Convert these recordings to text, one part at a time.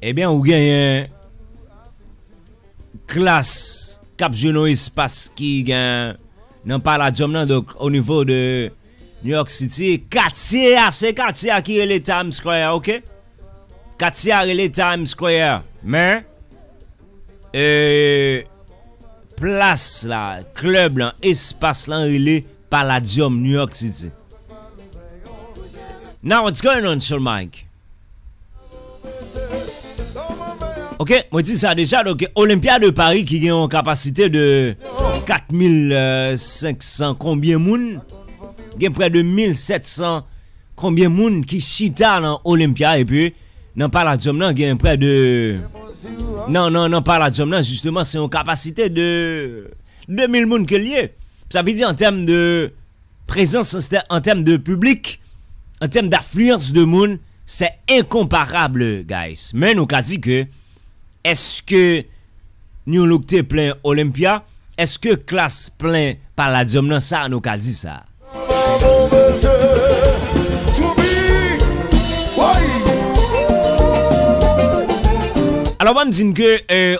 Ebyen ou genyen klas kap jwe nan espas ki gen nan paladyom nan dok o nivo de New York City katye a se katye a ki rele Times Square ok katye a rele Times Square men e plas la klub lan espas lan rele Palladium New York City Now what's going on sur Mike Ok mwen di sa deja donk Olympia de Paris ki gen yon kapasite de 4500 konbyen moun gen prè de 1700 konbyen moun ki chita nan Olympia epi nan Palladium nan gen prè de nan nan nan Palladium nan jisteman se yon kapasite de 4500 2000 moun ke l ye, sa vle di an tèm de prezans, an tèm de piblik, an tèm dafliyans de moun, sè enkonparab guys. Men nou ka di ke eske New Look te plen Olympia? Eske Klass plen Palladium nan? Sa nou ka di sa. Alò banm di n ke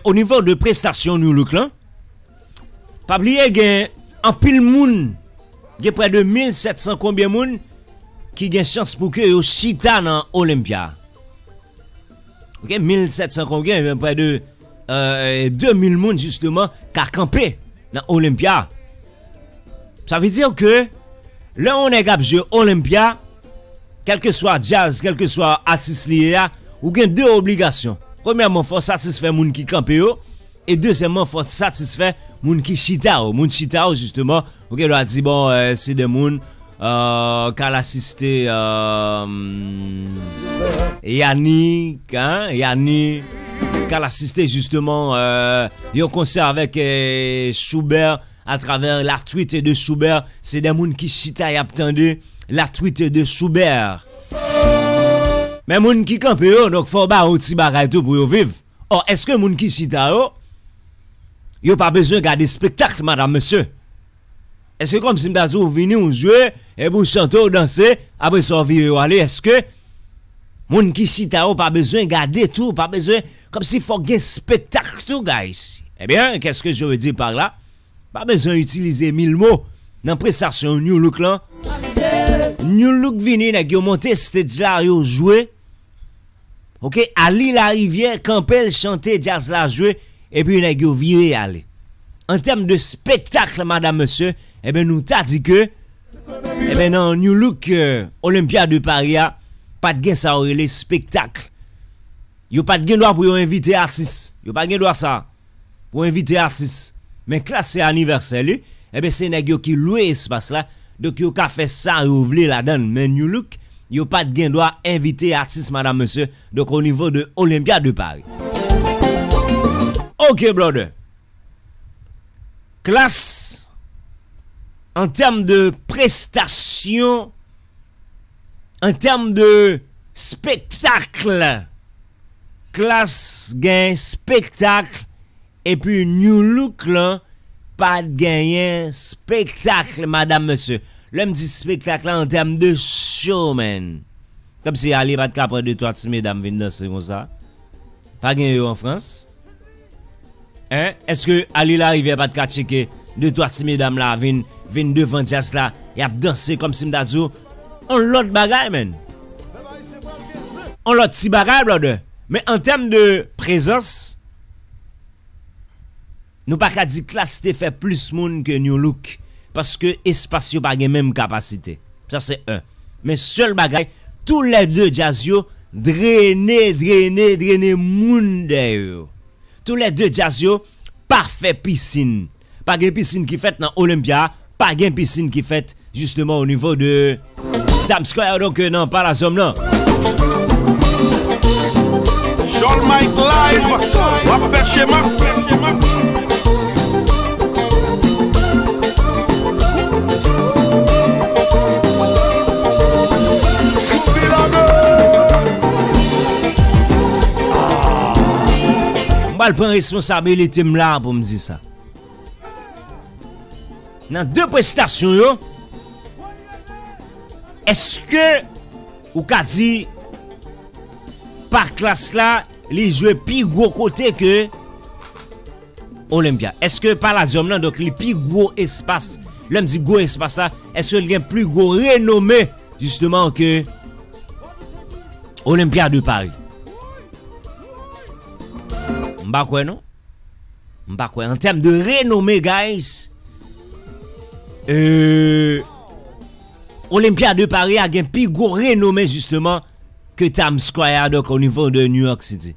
o nivo de prestasyon New Look lan, Pa bliye gen anpil moun, gen prè de 1700 konbyen moun ki gen chans pou ke yo chita nan Olympia. Ok, 1700 konbyen, gen prè de 2000 moun jisteman ka kanpe nan Olympia. Sa ve dire ke lè yon nèg ap jwe Olympia, kelke swa jazz, kelke swa atis li ye a, ou gen 2 obligasyon. Premyèman, fò w satisfè moun ki kanpe yo. E dezyèmman fòw satisfè moun ki chita yo, moun chita yo jisteman ou gen dwa di bon se de moun kal asiste Yannick an, Yannick kal asiste jisteman yon konsè avèk Choubert a travè la twite de Choubert se de moun ki chita yap tande la twite de Choubert men moun ki kanpe yo donk fòw ba yo ti bagay tou pou yo viv. Or eske moun ki chita yo, yo pa bezwen gade spektakl madam mesye? Eske kòm si m ta di w vini w jwe epi w chante w danse apre sa w vire w ale eske moun ki chita yo pa bezwen gade tou pa bezwen kòm si fòk gen spektakl tou guys? Ebyen kè s ke je ve di par la pa bezwen itilize mil mo nan prestasyon Nu Look lan Nu Look vini nèg yo monte stedj la yo jwe Ok Arly Lariviere kanpel chante djaz la jwe epi nèg yo vire ale an tèm de spektakl madam mesye ebyen nou ta di ke ebyen nan Nu Look Olympia de Paris a pat gen sa yo rele spektakl yo pat gen dwa pou yo envite atis yo pa gen dwa sa a. pou envite atis men klas se anivèsè li ebyen se nèg yo ki lwe espas la donk yo ka fè sa yo vle ladann men Nu Look yo pat gen dwa envite atis madam mesye donk o nivo de Olympia de Paris. Ok brother Klass an tèm de prestasyon an tèm de spektakl. Klass gen spectacle epi nu look lan pa genyen spectacle madam mesye lèm di spectacle la an tèm de show man kòmsi Aly pat ka pran de twa ti medam vin danse konsa pa gen yo an France. Hein eske Ali lariviere pat ka tcheke de twa ti medam la vin vin devan dyas la yap danse komsi m ta di w on lot bagay menn on lot ti bagay blòdè men an tèm de prezans nou pa ka di klass te fè plis moun ke nu look paske espas yo pa gen menm kapasite. Sa se 1. Men sèl bagay, tou lè 2 djaz yo drene, drene, drene moun dèyè yo. Tou lè 2 djaz yo pa fè pisin. Pa gen pisin ki fèt nan Olympia, pa gen pisin ki fèt jisteman o nivo de Times Square donk nan Palazzo m nan. Jhon Mike live, wap fè chema. Pal pran responsabilite m la pou m di sa. Nan de prestasyon yo, eske ou ka di pa klas la li jwe pi gwo kote ke Olympia eske palladium lan donk li pi gwo espas lèm di gwo espas sa eske li gen pli gwo renome jisteman ke Olympia de Paris m pa kwè non m pa kwè an tèm de renome guys eee Olympia de Paris a gen pi gwo renome jisteman ke Times Square a donk o nivo de New York City.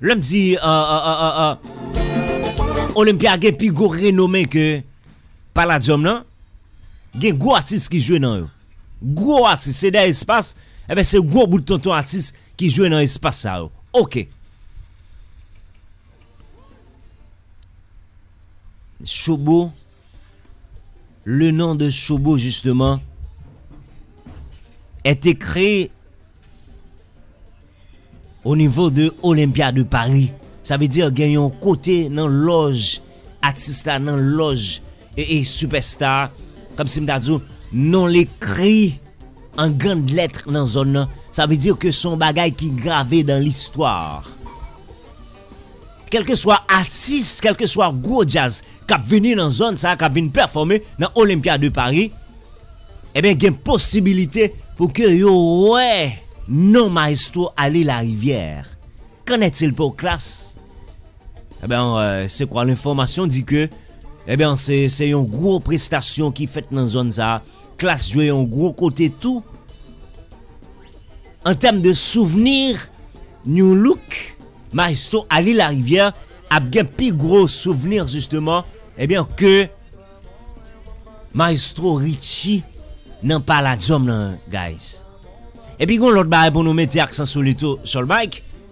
Lè m di Olympia gen pi gwo renome ke Palladium lan, gen gwo atis ki jwe nan yo. Gwo atis, se de espas, enben se gwo bout tonton atis ki jwe nan espas sa yo. Ok. Shobo, le non de Shobo jisteman, et ekri O nivo de Olympia de Paris, sa vle di gen yon kote nan lòj atis la, nan lòj ee sipèsta a, kòm si m ta di w, non l ekri an grand lettre nan zòn nan, sa vle di ke s on bagay ki grave dan listwa. Kèlkeswa atis, kèlkeswa gwo djaz k ap vini nan zòn sa, k ap vin pèfòme nan Olympia de Paris, enben gen posibilite pou ke yo wè non Maestro Arly Larivière. Qu'en est-il pour Klass? Enben, se kwa lenfòmasyon di ke, enben, se yon gwo prestasyon ki fèt nan zòn sa, Klass jwe yon gwo kote tou, An tèm de souvenir Nu Look maestro Aly Lariviere ap gen pi gwo souvenir justement ebyen eh ke maestro Richie nan palladium nan guys. Epi gon lòt bagay pou nou mete aksan sou li tou Sol Mike.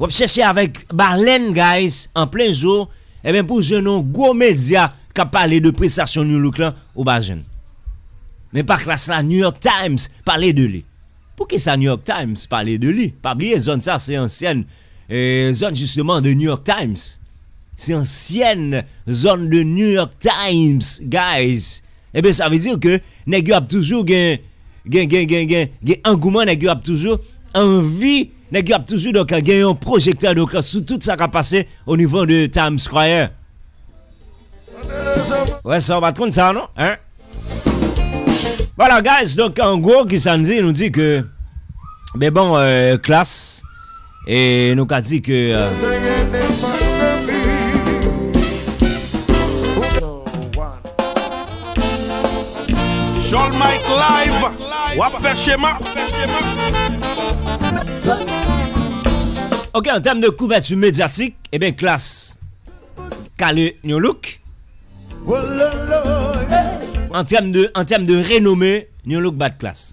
Wap chèche avèk balèn guys an plen zo ebyen pou jwenn yon gwo medya kap pale de prestasyon Nu Look lan ou pa jwenn men pa klas la New York Times pale de li poukisa New York Times pale de li pa bliye zòn sa se ansyèn zòn jisteman de New York Times se ansyèn zòn de New York Times guys. Ebyen sa vle di ke nèg yo ap toujou gen gen gen gen gen gen angouman nèg yo ap toujou anvi nèg yo ap toujou donk gen yon pwojektè donk sou tout sa kap pase o nivo de Time Square. Wè sa ou pat konn sa non hein. Voila guys donk an gwo kisa n di nou di ke men bon klass. E nou ka di ke. Ok an tèm de kouvèti medyatik e ben Klass kale yon louk. An tèm de an tèm de renome yon louk bat Klass.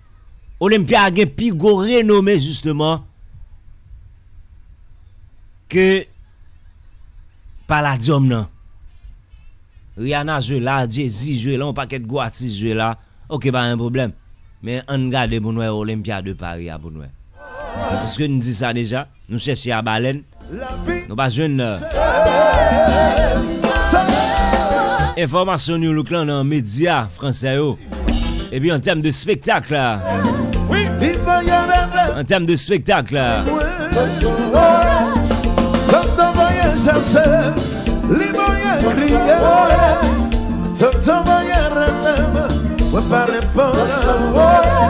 Olympia gen pi gwo renome jisteman ke Palladium nan. Rihanna jwe la, Jay-Z jwe la, yon pakèt gwo atis jwe la, ok pa gen pwoblèm. Men ann gade pou n wè Olympia de Paris a pou n wè. Èske n di sa deja? Nou chèche a balèn Nou pa jwenn Enfòmasyon New Look lan nan medya fransè yo Epi an tèm de spektak la An tèm de spektak la Mwen pale pou la